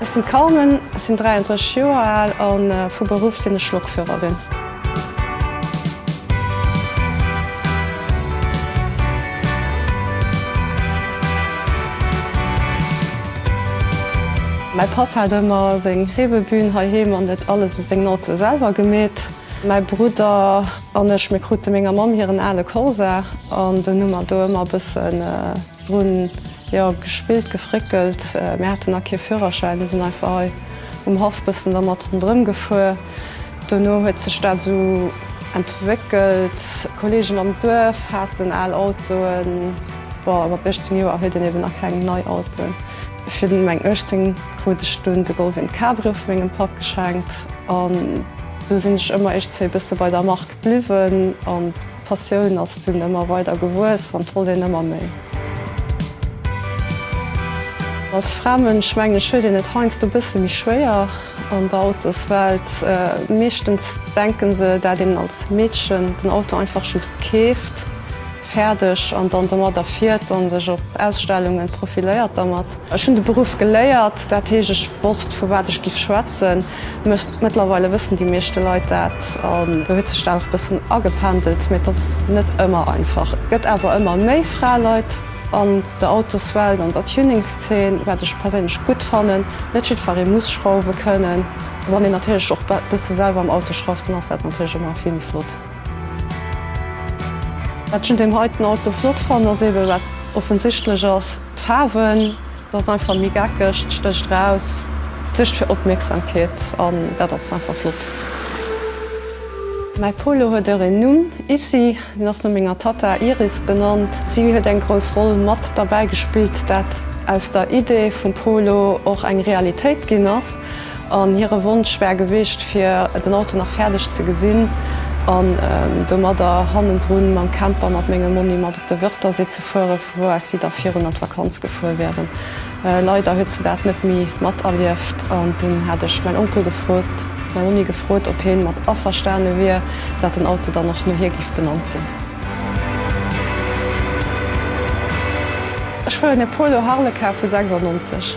Ech sinn d'Carmen, ech sinn 33 Joer al a vu Beruff sinn ech Lokführerin. Mäi Papp hat ëmmer seng Reebebühn heiheem an huet alles u sengen Auto selwer gemeet. Mäi Brudder an ech, mir krute menger Mamm hiren ale Corsa an dunn hu mer do ëmmer e bëssen dru jo gespillt, gefréckelt. Mir hate nach kee Führerschäin, mir sinn einfach hei um Haff bëssen dermat ronderëm gefuer. Dono huet sech dat esou entwéckelt, Kolleegen am Duerf haten al Autoen, bon mat 18 Joer huet een eben nach keng nei Autoen. Fir meng 18 krut ech dunn de Goldwyn Cabrio vu mengem Papp geschenkt an du sinn ech ëmmer éischt zwee bësse bei der Mark bliwwen an d'Passioun ass dunn ëmmer weider gewuess an d'wollt een ëmmer méi. Als Framënsch mengen ech huet een et heiansdo bësse méi schwéier an der Autoswelt. Meeschtens denken se dat een als Meedchen den Auto einfach just keeft. Fäerdeg an dann domadder fiert an sech op Ausstellungen profiléiert dermat. Ech hunn de Beruff geléiert, dat heescht ech wosst vu wat ech giff schwätzen. Mëttlerweile wëssen déi meeschte Leit dat an do huet sech dat och bëssen agependelt. Mee et ass net ëmmer einfach. Et gëtt awer ëmmer méi Fraeleit an der Autoswelt, an der Tuningszeen, wat ech perséinlech gutt fannen. Net jiddferee muss schrauwe kënnen. Wann een natierlech och bësse selwer am Auto schrauft, dann ass dat natierlech ëmmer vill méi flott. Wat ech un deem heiten Auto flott fannen, ass eebe wat offensichtlech ass, d'Faarwen. Dat ass einfach méi geckeg, et stécht raus, et suergt fir Opmierksamkeet an dat ass einfach flott. Mäi Polo huet och een Numm, Issy. Deen ass no menger Tatta Iris benannt. Si huet eng grouss Roll mat derbäi gespillt, dat aus der Idee vum Polo och eng Realitéit ginn ass. An hire Wonsch war gewicht fir den Auto nach fäerdeg ze gesinn an domadder hannendrun mam Camper mat mengem Monni mat op de Wörthersee ze fuere vu wou aus si da virun an d'Vakanz gefuer wieren. Leider huet se dat net méi mat erlieft an dunn hat ech mäin Onkel gefrot, mäi Monni gefrot op hien mat averstane wier dat den Auto dann och no hir giff benannt ginn. Ech fueren e Polo Harlequin vu 96.